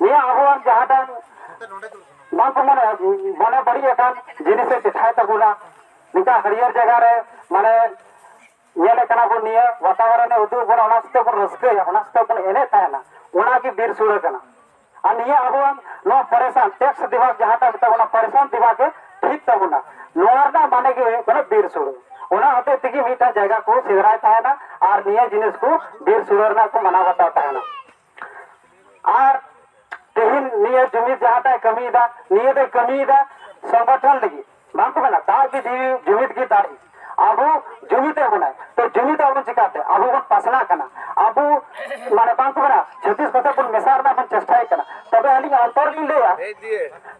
ᱱᱤᱭᱟᱹ ᱟᱵᱚᱣᱟᱜ ᱡᱟᱦᱟᱸᱴᱟᱝ ᱵᱟᱝ ᱠᱚ ᱢᱟᱱᱮ ᱢᱟᱱᱮ ᱵᱟᱹᱲᱤᱡ ᱟᱠᱟᱱ ᱡᱤᱱᱤᱥᱮ ᱪᱮᱴᱷᱟᱭ ᱛᱟᱵᱚᱱᱟ ᱱᱤᱝᱠᱟ ᱦᱟᱹᱨᱭᱟᱹᱲ ᱡᱟᱭᱜᱟ ᱨᱮ ᱢᱟᱱᱮ ᱧᱮᱞᱮᱫ ᱠᱟᱱᱟ ᱵᱚᱱ ᱱᱤᱭᱟᱹ ᱵᱟᱛᱟᱵᱚᱨᱚᱱᱮ ᱩᱫᱩᱜ ᱵᱚᱱᱟ ᱚᱱᱟ ᱥᱟᱛᱮᱜ ᱵᱚᱱ ᱨᱟᱹᱥᱠᱟᱹᱭᱟ ᱚᱱᱟ ᱥᱟᱛᱮᱜ ᱵᱚᱱ ᱮᱱᱮᱡ ᱛᱟᱦᱮᱱᱟ ᱚᱱᱟᱜᱮ ᱵᱤᱨ ᱥᱩᱲᱟᱹ ᱠᱟᱱᱟ ᱟᱨ ᱱᱤᱭᱟᱹ ᱟᱵᱚᱣᱟᱜ ᱱᱚᱣᱟ ᱯᱟᱨᱮᱥᱟᱱ ᱴᱮᱠᱥ ᱫᱤᱵᱟᱜᱽ ᱡᱟᱦᱟᱸᱴᱟᱜ ᱢᱮᱛᱟᱜ ᱠᱟᱱᱟ ᱯᱟᱨᱮᱥᱟᱱ ᱫᱤᱵᱟᱜᱽ ᱜᱮ ᱴᱷᱤᱠ ᱛᱟᱵᱚᱱᱟ ᱱᱚᱣᱟ ᱨᱮᱱᱟᱜ ᱢᱟᱱᱮ ᱜᱮ ᱦᱩᱭᱩᱜ ᱠᱟᱱᱟ ᱵᱤᱨ ᱥᱩᱲᱟᱹ ᱚᱱᱟ ᱦᱚᱛᱮᱡ ᱛᱮᱜᱮ ᱢᱤᱫᱴᱟᱝ ᱡᱟᱭᱜᱟ ᱠᱚ ᱥᱮᱸᱫᱽᱨᱟᱭ ᱛᱟᱦᱮᱱᱟ ᱟᱨ ᱱᱤᱭᱟᱹ ᱡᱤᱱᱤᱥ ᱠᱚ ᱵᱤᱨ ᱥᱩᱲᱟᱹ ᱨᱮᱱᱟᱜ ᱠᱚ ᱢᱟᱱᱟᱣ ᱵᱟᱛᱟᱣ ᱛᱟᱦᱮᱱᱟ ᱟᱨ ᱛᱮᱦᱮᱧ ᱱᱤᱭᱟᱹ ᱡᱩᱢᱤᱫ ᱡᱟᱦᱟᱸᱴᱟᱜ ᱮ ᱠᱟᱹᱢᱤᱭᱮᱫᱟ ᱱᱤᱭᱟᱹ ᱫᱚᱭ ᱠᱟᱹᱢᱤᱭᱮᱫᱟ ᱥᱚᱝᱜᱚᱴᱷᱚᱱ ᱞᱟᱹᱜᱤᱫ ᱵᱟᱝ ᱠᱚ ᱢᱮᱱᱟ ᱫᱟᱜ ᱜᱮ ᱡᱤᱣᱤ ᱡᱩᱢᱤᱫ ᱜᱮ ᱫᱟᱲᱮ ᱟᱵᱚ ᱡᱩᱢᱤᱫ ᱮᱫ ᱵᱚᱱᱟᱭ ᱛᱚ ᱡᱩᱢᱤᱫ ᱟᱵᱚᱱ ᱪᱤᱠᱟᱛᱮ ᱟᱵᱚ ᱵᱚᱱ ᱯᱟᱥᱱᱟᱜ ᱠᱟᱱᱟ ᱟᱵᱚ ᱢᱟᱱᱮ ᱵᱟᱝ ᱠᱚ ᱢᱮᱱᱟ ᱪᱷᱟᱹᱛᱤᱥ ᱠᱚᱛᱮ ᱵᱚᱱ ᱢᱮᱥᱟ ᱨᱮᱱᱟᱜ ᱵᱚᱱ ᱪᱮᱥᱴᱟᱭᱮᱫ ᱠᱟᱱᱟ ᱛᱚᱵᱮ ᱟᱹᱞᱤᱧ ᱚᱱᱛᱚᱨ ᱞᱤᱧ ᱞᱟᱹᱭᱟ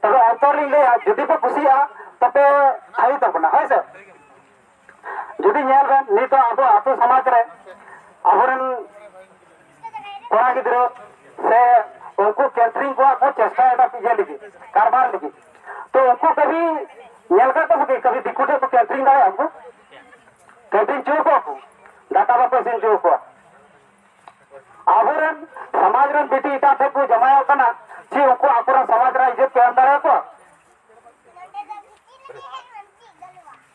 ᱛᱚᱵᱮ ᱚᱱᱛᱚᱨ ᱞᱤᱧ ᱞᱟᱹᱭᱟ ᱡᱩᱫᱤ ᱯᱮ ᱠᱩᱥᱤᱭᱟᱜᱼᱟ ᱛᱚᱯᱮ ᱛᱷᱟᱭᱤ ᱛᱟᱵᱚᱱᱟ ᱦᱳᱭ ᱥᱮ ᱡᱩᱫᱤ ᱧᱮᱞ ᱵᱮᱱ ᱱᱤᱛᱚᱜ ᱟᱵᱚ ᱟᱛᱳ ᱥᱚᱢᱟᱡᱽ ᱨᱮ ᱟᱵᱚᱨᱮᱱ ᱠᱚᱲᱟ ᱜᱤᱫᱽᱨᱟᱹ ᱥᱮ ᱩᱱᱠᱩ ᱠᱮᱴᱨᱤᱝ ᱠᱚᱣᱟᱜ ᱠᱚ ᱪᱮᱥᱴᱟᱭᱮᱫᱟ ᱤᱭᱟᱹ ᱞᱟᱹᱜᱤᱫ ᱠᱟᱨᱵᱟᱨ ᱞᱟᱹᱜᱤᱫ ᱛᱚ ᱩᱱᱠᱩ ᱠᱟᱹᱵᱷᱤ ᱧᱮᱞ ᱠᱟᱜ ᱠᱚᱣᱟ ᱠᱤ ᱠᱟᱹᱵᱷᱤ ᱫᱤᱠᱩ ᱴᱷᱮᱱ ᱠᱚ ᱠᱮᱴᱨᱤᱝ ᱫᱟᱲᱮᱭᱟᱜᱼᱟ ᱩᱱᱠᱩ ᱠᱮᱴᱨᱤᱝ ᱪᱚ ᱠᱚᱣᱟ ᱠᱚ ᱫᱟᱠᱟ ᱵᱟᱠᱚ ᱤᱥᱤᱱ ᱪᱚ ᱠᱚᱣᱟ ᱟᱵᱚᱨᱮᱱ ᱥᱚᱢᱟᱡᱽ ᱨᱮᱱ ᱵᱤᱴᱤ ᱮᱴᱟᱜ ᱴᱷᱮᱱ ᱠᱚ ᱡᱟᱢᱟᱭᱚᱜ ᱠᱟᱱᱟ ᱪᱮ ᱩᱱᱠᱩ ᱟᱠᱚᱨᱮᱱ ᱥᱚᱢᱟᱡᱽ ᱨᱮ ᱤᱡᱽᱡᱚᱛ ᱠᱚ ᱮᱢ ᱫᱟᱲᱮᱭᱟᱠᱚᱣᱟ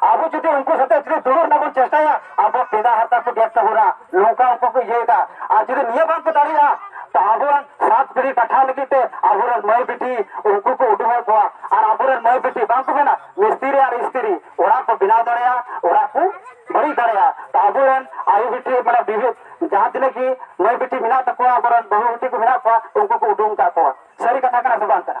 ᱟᱵᱚ ᱡᱩᱫᱤ ᱩᱱᱠᱩ ᱥᱟᱛᱮ ᱡᱩᱫᱤ ᱫᱩᱲᱩᱵ ᱨᱮᱱᱟᱜ ᱵᱚᱱ ᱪᱮᱥᱴᱟᱭᱟ ᱟᱵᱚ ᱯᱮᱫᱟ ᱦᱟᱨᱛᱟ ᱠᱚ ᱜᱮᱫ ᱛᱟᱵᱚᱱᱟ ᱱᱚᱝᱠᱟ ᱩᱱᱠᱩ ᱠᱚ ᱤᱭᱟᱹᱭᱮᱫᱟ ᱟᱨ ᱡᱩᱫᱤ ᱱᱤᱭᱟᱹ ᱵᱟᱝ ᱠᱚ ᱫᱟᱲᱮᱭᱟᱜᱼᱟ ᱛᱚ ᱟᱵᱚᱣᱟᱜ ᱥᱟᱛ ᱯᱤᱲᱦᱤ ᱠᱟᱴᱷᱟᱣ ᱞᱟᱹᱜᱤᱫ ᱛᱮ ᱟᱵᱚᱨᱮᱱ ᱢᱟᱹᱭ ᱵᱤᱴᱤ ᱩᱱᱠᱩ ᱠᱚ ᱩᱰᱩᱠᱮᱫ ᱠᱚᱣᱟ ᱟᱨ ᱟᱵᱚᱨᱮᱱ ᱢᱟᱹᱭ ᱵᱤᱴᱤ ᱵᱟᱝ ᱠᱚ ᱢᱮᱱᱟ ᱢᱤᱥᱛᱨᱤ ᱟᱨ ᱤᱥᱛᱨᱤ ᱚᱲᱟᱜ ᱠᱚ ᱵᱮᱱᱟᱣ ᱫᱟᱲᱮᱭᱟᱜᱼᱟ ᱚᱲᱟᱜ ᱠᱚ ᱵᱟᱹᱲᱤᱡ ᱫᱟᱲᱮᱭᱟᱜᱼᱟ ᱛᱚ ᱟᱵᱚᱨᱮᱱ ᱟᱭᱳ ᱵᱤᱴᱤ ᱢᱟᱱᱮ ᱵᱤᱵᱷᱤ ᱡᱟᱦᱟᱸ ᱛᱤᱱᱟᱹᱜ ᱜᱮ ᱢᱟᱹᱭ ᱵᱤᱴᱤ ᱢᱮᱱᱟᱜ ᱛᱟᱠᱚᱣᱟ ᱟᱵᱚᱨᱮᱱ ᱵᱟᱹᱦᱩ ᱵᱤᱴᱤ ᱠᱚ ᱢᱮᱱᱟᱜ ᱠᱚᱣᱟ ᱩᱱᱠᱩ ᱠᱚ ᱩᱰᱩᱝ ᱠᱟᱜ ᱠᱚᱣᱟ ᱥᱟᱹᱨᱤ ᱠᱟᱛᱷᱟ ᱠᱟᱱᱟ ᱥᱮ ᱵᱟᱝ ᱠᱟᱱᱟ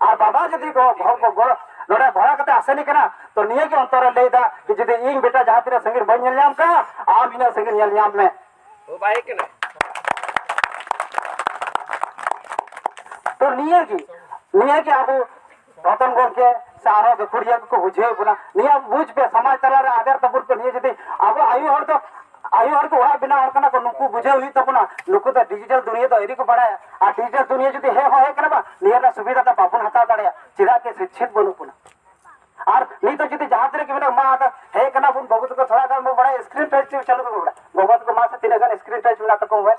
ᱟᱨ ᱵᱟᱵᱟ ᱡᱩᱫᱤ ᱱᱚᱰᱮ ᱵᱷᱟᱲᱟ ᱠᱟᱛᱮ ᱟᱥᱮᱱᱤ ᱠᱟᱱᱟ ᱛᱚ ᱱᱤᱭᱟᱹ ᱜᱮ ᱚᱱᱛᱚᱨ ᱨᱮ ᱞᱟᱹᱭᱫᱟ ᱠᱤ ᱡᱩᱫᱤ ᱤᱧ ᱵᱮᱴᱟ ᱡᱟᱦᱟᱸ ᱛᱤᱱᱟᱹᱜ ᱥᱟᱺᱜᱤᱧ ᱵᱟᱹᱧ ᱧᱮᱞ ᱧᱟᱢ ᱠᱟᱜᱼᱟ ᱟᱢ ᱤᱱᱟᱹᱜ ᱥᱟᱺᱜᱤᱧ ᱧᱮᱞ ᱧᱟᱢ ᱢᱮ ᱳ ᱵᱟᱭ ᱠᱟᱱᱟ ᱛᱚ ᱱᱤᱭᱟᱹ ᱜᱮ ᱱᱤᱭᱟᱹ ᱜᱮ ᱟᱵᱚ ᱨᱚᱛᱚᱱ ᱜᱚᱢᱠᱮ ᱥᱮ ᱟᱨᱚ ᱜᱟᱹᱠᱷᱩᱲᱤᱭᱟᱹ ᱠᱚᱠᱚ ᱵᱩᱡᱷᱟᱹᱣ ᱵᱚᱱᱟ ᱱᱤᱭᱟᱹ ᱵᱩᱡᱽ ᱯᱮ ᱥᱚᱢᱟᱡᱽ ᱛᱟᱞᱟᱨᱮ ᱟᱫᱮᱨ ᱛᱟᱵᱚᱱ ᱯᱮ ᱱᱤᱭᱟᱹ ᱡᱩᱫᱤ ᱟᱵᱚ ᱟᱭᱳ ᱦᱚᱲ ᱫᱚ ᱟᱭᱳ ᱦᱚᱲ ᱠᱚ ᱚᱲᱟᱜ ᱵᱮᱱᱟᱣ ᱦᱚᱲ ᱠᱟᱱᱟ ᱠᱚ ᱱᱩᱠᱩ ᱵᱩᱡᱷᱟᱹᱣ ᱦᱩᱭᱩᱜ ᱛᱟᱵᱚᱱᱟ ᱱᱩᱠᱩ ᱫᱚ ᱰᱤᱡᱤᱴᱟᱞ ᱫᱩᱱᱤᱭᱟᱹ ᱫᱚ ᱟᱹᱣᱨᱤ ᱠᱚ ᱵᱟᱲᱟᱭᱟ ᱟᱨ ᱰᱤᱡᱤᱴᱟᱞ ᱫᱩᱱᱤᱭᱟᱹ ᱡᱩᱫᱤ ᱦᱮᱡ ᱦᱚᱸ ᱦᱮᱡ ᱠᱟᱱᱟ ᱵᱟᱝ ᱱᱤᱭᱟᱹ ᱨᱮᱱᱟᱜ ᱥᱩᱵᱤᱫᱷᱟ ᱫᱚ ᱵᱟᱵᱚᱱ ᱦᱟᱛᱟᱣ ᱫᱟᱲᱮᱭᱟᱜᱼᱟ ᱪᱮᱫᱟᱜ ᱠᱤ ᱥᱤᱪᱪᱷᱤᱛ ᱵᱟᱹᱱᱩᱜ ᱵᱚᱱᱟ ᱟᱨ ᱱᱤᱛᱚᱜ ᱡᱩᱫᱤ ᱡᱟᱦᱟᱸ ᱛᱤᱱᱟᱹᱜ ᱜᱮ ᱢᱮᱱᱟᱜ ᱢᱟ ᱟᱫᱚ ᱦᱮᱡ ᱠᱟᱱᱟ ᱵᱚᱱ ᱵᱟᱹᱵᱩ ᱛᱟᱠᱚ ᱛᱷᱚᱲᱟ ᱜᱟᱱ ᱵᱚᱱ ᱵᱟᱲᱟᱭᱟ ᱥᱠᱨᱤᱱ ᱴᱟᱪ ᱪᱟᱹᱞᱩ ᱵᱟᱵᱚᱱ ᱵᱟᱲᱟᱭᱟ ᱜᱚᱜᱚ ᱛᱟᱠᱚ ᱢᱟ ᱥᱮ ᱛᱤᱱᱟᱹᱜ ᱜᱟᱱ ᱥᱠᱨᱤᱱ ᱴᱟᱪ ᱢᱮᱱᱟᱜ ᱛᱟᱠᱚ ᱢᱳᱵᱟᱭᱤᱞ